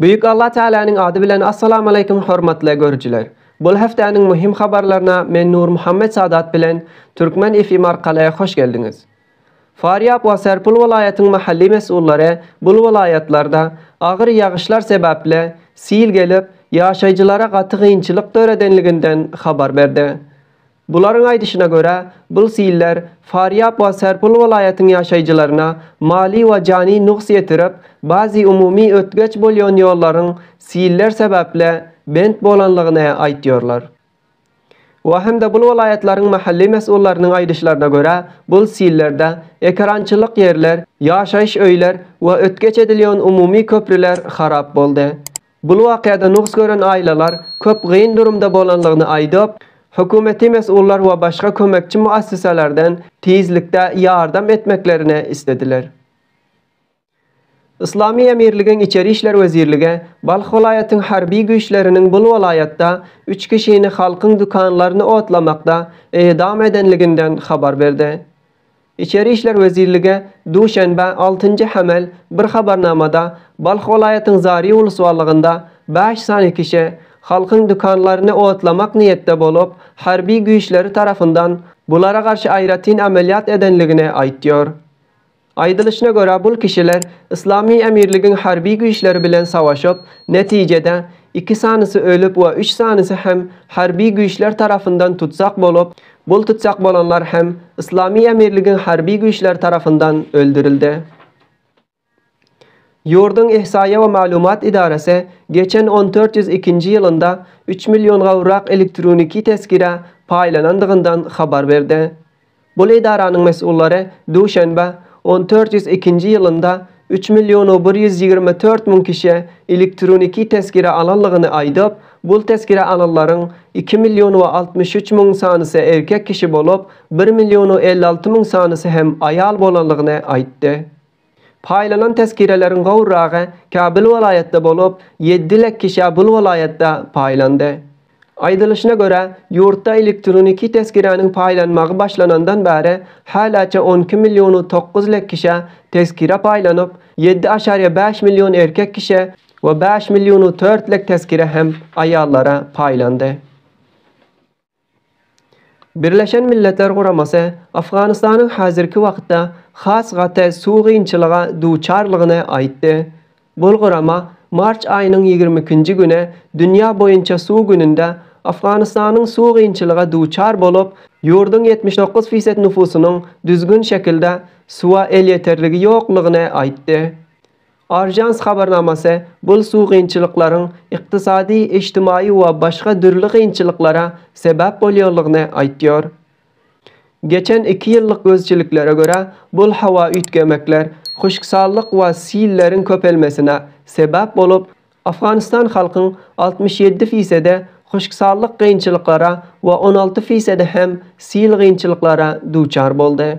Büyük Allah Tealanyň ady bilen Assalamaleykum hormatly görüjiler. Bul hepdäniň muhim habarlaryna men Nurmuhammet Sadat bilen Türkmen FM arkaly hoş geldiňiz. Farýap we Serpul welaýatyň mahalli mes'ullary bul welaýatlarda agyr ýagyşlar sebäpli sil gelip ýaşaýjylara gaty gynçylyk döredenliginden habar berdi. Bularyň aýdyşyna görä, bul siller Farýap we Serpul welaýatyň ýaşaýjylaryna mali we jany nugs ýetirip, bazi umumy ötgeç bolýan ýollaryň siller sebäpli bent bolanlygyny aýtýarlar. We hem-de bul welaýatlaryň mahalli mes'ullarynyň aýdyşlaryna görä, bul sillerde ekerançylyk ýerler, ýaşaýyş öýler we ötgeç edilýän umumy köprüler harap boldy. Bul wakyada nugs gören aýlalar köp gyn durumda bolanlygyny aýdyp, hökümeti mes'ullar we başga kömekçi muassysalardan tizlikde ýardam etmeklerini islediler. Yslamy emirligiň içeri işler wezirligi Balh welaýatyň harby güýçleriniň bul welaýatda üç kişini halkyň dükanlaryny otlamakda edam edenliginden habar berdi. Içeri işler wezirlige duşenbe, altynjy hemel, bir habarnamada Balh welaýatyň Zary uluswalygynda bäş sany kişi halkyň dükanlaryny otlamak niýetde bolup, harby güýçleri tarapyndan bulara garşy aýratyn amelýat edenligini aýtýar. Aýdylyşyna görä, bul kişiler Yslamy emirligiň harby güýçleri bilen savaşyp, netijede, iki sanysy ölüp we üç sanysy hem harby güýçler tarapyndan tutsak bolup, Gol tutjak bolanlar hem Yslamy emirligiň harby güýçleri tarapyndan öldürildi. Ýurduň Ihsaýa we maglumat edarasy geçen on dört ýüz ikinji ýylynda üç million gowrak elektroniki tezkire paýlanandygyndan habar berdi. Bul edaranyň mesullary duşenbe on dört ýüz ikinji ýylynda üç million bir ýüz ýigrimi dört müň kişä elektroniki tezkere alanlygyny aýdyp, bul tezkere alanlaryň iki million altmyş üç müň sanysy erkek kişi bolup, bir million elli alty müň sanysy hem aýal bolanlygyny aýtdy. Paýlanan tezkereleriň gowragy Kabul welaýatda bolup, ýedi lek kişä bul welaýatda paýlandy. Aýdylyşyna görä, ýurtda elektroniki tezkiräniň paýlanmagy başlanandan bäri häläçe on iki millionu tokuz lek kişä tezkire paýlanyp, ýedi aşariýe bäş million erkek kişä we bäş millionu tört lek tezkire hem aýallara paýlandy. Birleşen Milletler Guramasy Afganystanyň häzirki wagtda has gaty suw gynçylyga duçarlygyny aýtdy. Bul gurama mart aýynyň ýigrimi ikinji güni dünýä boýunça suw gününde Afganystanyň suw gynçylyga duçar bolup, ýurduň ýetmiş dokuz fised nufusynyň düzgün şekilde suwa elýeterligi ýoklugyny aýtdy. Ajans habarnamasy bul suw kynçylyklaryň ykdysady, ijtimaýy we başga dürli kynçylyklara sebäp bolýanlygyny aýtýar. Geçen iki ýyllyk gözçiliklere görä, bul howa üýtgemekler, huşksallyk we silleriň köpelmesine sebäp bolup, Afganistan halkyň altmyş ýedi fisedi huşksallyk kynçylyklara we on alty fisedi hem sil kynçylyklara duçar boldy.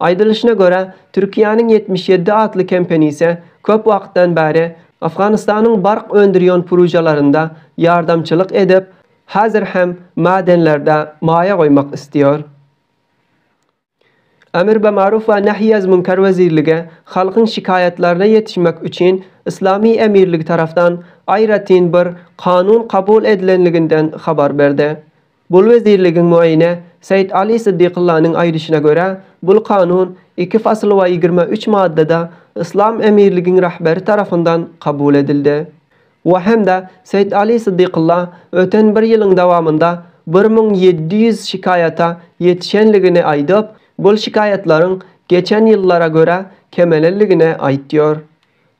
Aýdylyşyna görä, Türkiýäniň ýetmiş ýedi atly kempenisi köp wagtdan bäri Afganystanyň bark öndürýon pružalarynda ýardamçylyk edip, häzir hem mädenlerde maýa goýmak isleýär. Emr be maruf we nehy ez münker wezirligi halkyň şikaýatlaryna ýetişmek üçin Yslamy emirligi tarapdan aýratyn bir kanun kabul edilenliginden habar berdi. Bul wezirligiň muaýyne Seýit Aly Syddykyllanyň aýdyşyna görä, bul kanun iki fasyl we ýigrimi üç maddada Yslam emirligiň rahberi tarapyndan kabul edildi. We hem-de Seýit Aly Syddykylla öten bir ýylyň dawamynda bir müň ýedi ýüz şikaýata ýetişenligini aýdyp, bul şikaýatlaryň geçen ýyllara görä kemelenligini aýtýar.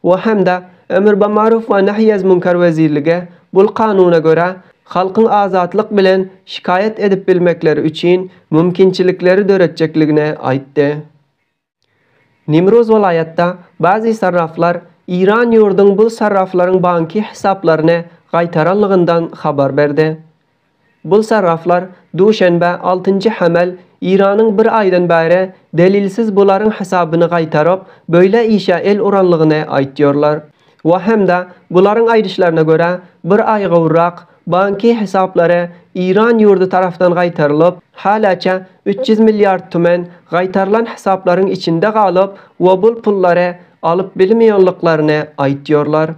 we hem-de Emrbamaruf we Nehyezmünkar wezirligi bul Kanuna görä halkyň azatlyk bilen şikaýat edip bilmekleri üçin mümkinçilikleri döretjekligini aýtdy. Nimruz welaýatda bazi sarraflar Iran ýurduň bul sarraflaryň banki hesaplaryny gaýtaranlygyndan habar berdi. Bu sargaflar Duşenbe, altynjy Hemel, Iranyň bir aýdan bäri delilsiz bularyň hasabyny gaýtaryp, beýle işe el uranlygyny aýtýarlar. We hem-de, bularyň aýdyşlaryna görä, bir aý gowrak, banki hesaplary Iran ýurdy tarapdan gaýtarylyp, häläçe üç ýüz milliard tümen gaýtarylan hesaplaryň içinde galyp we bul pullary alyp bilmeýänliklerini aýtýarlar.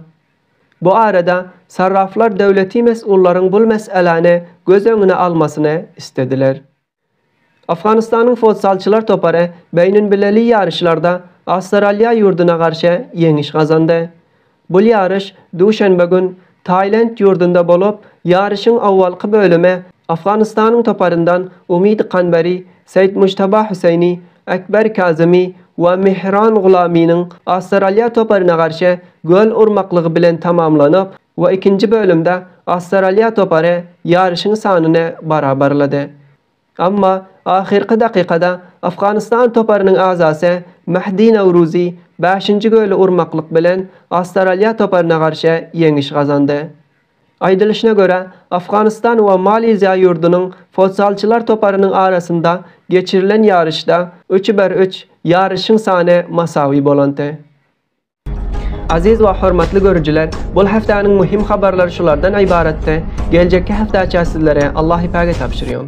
Bu arada sarraflar döwleti mes'ullaryň bul mes'eläni göz öňüne almasyny islediler. Afganystanyň fotsalçylar topary beýninbileli ýaryşlarda Awstraliýa ýurduna garşy ýeňiş gazandy. Bul ýaryş duşenbe gün Taýland ýurdunda bolup, ýaryşyň owalky bölümi Afganystanyň toparyndan Umid Kanberi Seýitmujtaba Hüseýni, Ekber Kazymy we Mihran Gulamynyň Awstraliýa toparyna garşy gol urmaklygy bilen tamamlanyp we ikinji bölümde Awstraliýa topary ýaryşyň sanyny barabarlady. Emma ahyrky dakykada Afganystan toparynyň agzasy Mehdi Nowruzy bäşinji göli urmaklyk bilen Awstraliýa toparyna garşy ýeňiş gazandy. Aýdylyşyna görä, Afganystan we Maliziýa ýurdunyň fotzalçylar toparynyň arasynda geçirilen ýaryşda üç bir üç ýaryşyň sany masawy bolanty. Aziz we hormatly görüjiler, bul hepdäniň muhim habarlary şulardan ybaratdy. Geljekki hepdäçä sizlere Allahypäge tabşyrýan.